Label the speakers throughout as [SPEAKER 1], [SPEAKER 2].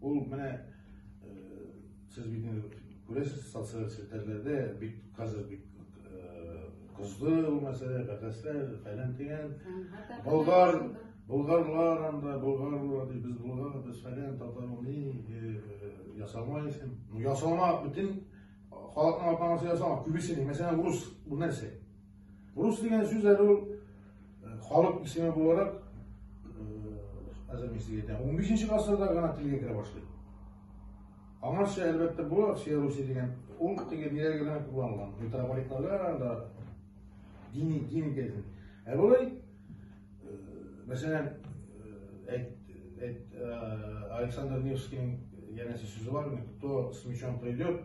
[SPEAKER 1] Ул менә сез бит инде күрәсез социаль челтәрләрдә бик хәзер бик кызды ул мәсьәлә, бәхәсләр, фәлән дигән. Болгар, болгарлар анда, болгарлар, без болгар, без фәлән, татарны ясамайсың. Ну ясама, бөтен халыкның атамасы ясама, күбесен, мәсәлән, урыс, бу нәрсә? Рус дигән сүз әле ул э, халык исеме буларак әзер мин сезгә әйтәм, 15 гасырда гына телгә керә башлый. Аңарча әлбәттә бу Россия Русия дигән ул теге ниләргә генә кулланылган. Митрополитларга да дини дин итәсен. Ә болай э, мәсәлән э, әйт әйт э, Александр Невскийның янәсе сүзе бар, кто с мечом придет,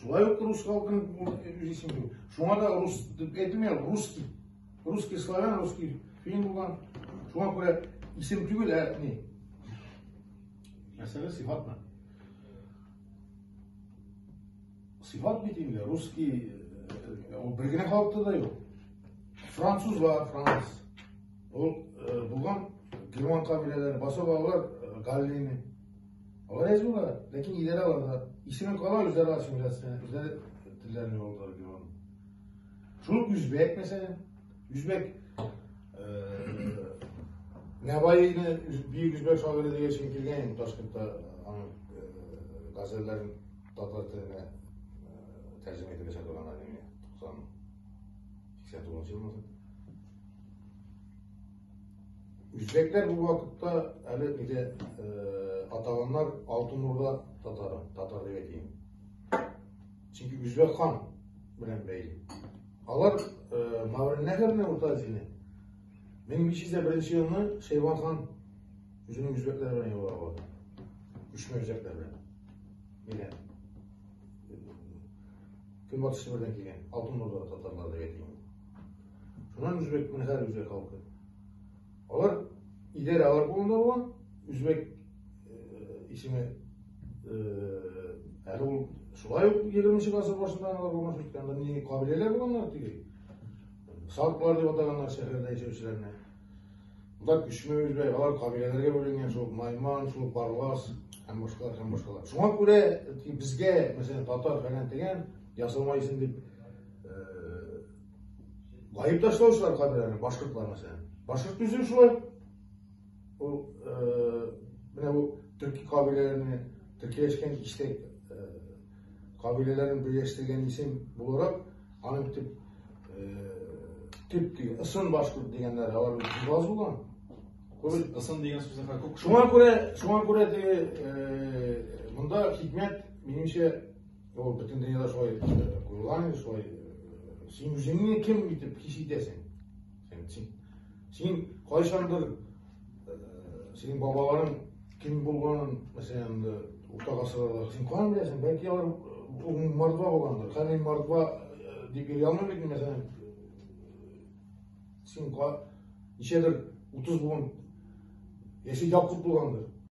[SPEAKER 1] Шулай ук рус халкын исемлеу. Шуңа да рус дип әйтмим, русский. Русский славян, русский фин булган. Шуңа күрә исем түгел, ә ни? Мәсәлә сыйфатмы? Сыйфат бит инде, русский, ул бер генә халыкта да юк. Француз бар, француз. Ул булган герман кабиләләре, басып алар галлины. Алар язуга, ләкин идарә аларга исемен кала үзара ассимиляция, үзара телләрне алдар биргән. Шул үзбәк мәсәлән, үзбәк Нәваине бөек үзбәк шагыйре дигән өчен килгән инде Ташкентта аның газәлләрен татар теленә тәрҗемә итеп ясап торган әле 90 89 елмы? Үзбәкләр бу вакытта әле инде атаганнар Алтын Урда татары, татар дип әйтим. Чөнки Үзбәк хан белән бәйле. Алар Мавринәгәрне Урта Азияне 1501 елны Шәйбан хан үзенең үзбәкләре белән юлга барды. Күчмә үзбәкләр белән. Менә көнбатыш Себердән килгән Алтын Урда татарлары дип әйтим. Шуннан үзбек менһәр үзбек халкы. Алар идарә алар кулында булган үзбек исеме әле ул шулай ук егерменче гасыр башында алар булмаш иткән мени кабиләләр булганнар теге салклар дип атаганнар шәһәрдә яшәүчеләрне Монда күчмә үзбәй, алар кабиләләргә бүленгән, шул Майман, шул Барлас һәм башкалар һәм башкалар. Шуңа күрә безгә, мәсәлән, татар фәлән дигән ясалма исем дип Байып ташлаучылар каберләрне башкортлар мәсәлән. Башкорт түзем шулай. Ул менә бу төрки кабиләләрне төркиләшкән иштә кабиләләрен берләштергән исем буларак аның төп төп диге ысын башкорт дигәннәр алар аз булган. Ысын
[SPEAKER 2] дигән сүзне хәл күк. Шуңа күрә, шуңа күрә
[SPEAKER 1] диге монда хикмәт минемчә Ул бөтен дөньяда шулай куела, шулай син үзеңне кем итеп хис итәсең? Син син син кайчандыр синең бабаларың кем булганын, мәсәлән, урта гасырларда син каян беләсең? Бәлки алар ул мордва булгандыр. Хәзер мордва дип йөри алмыйм бит, мәсәлән, син ничәдер 30 булган яши Якуб булгандыр.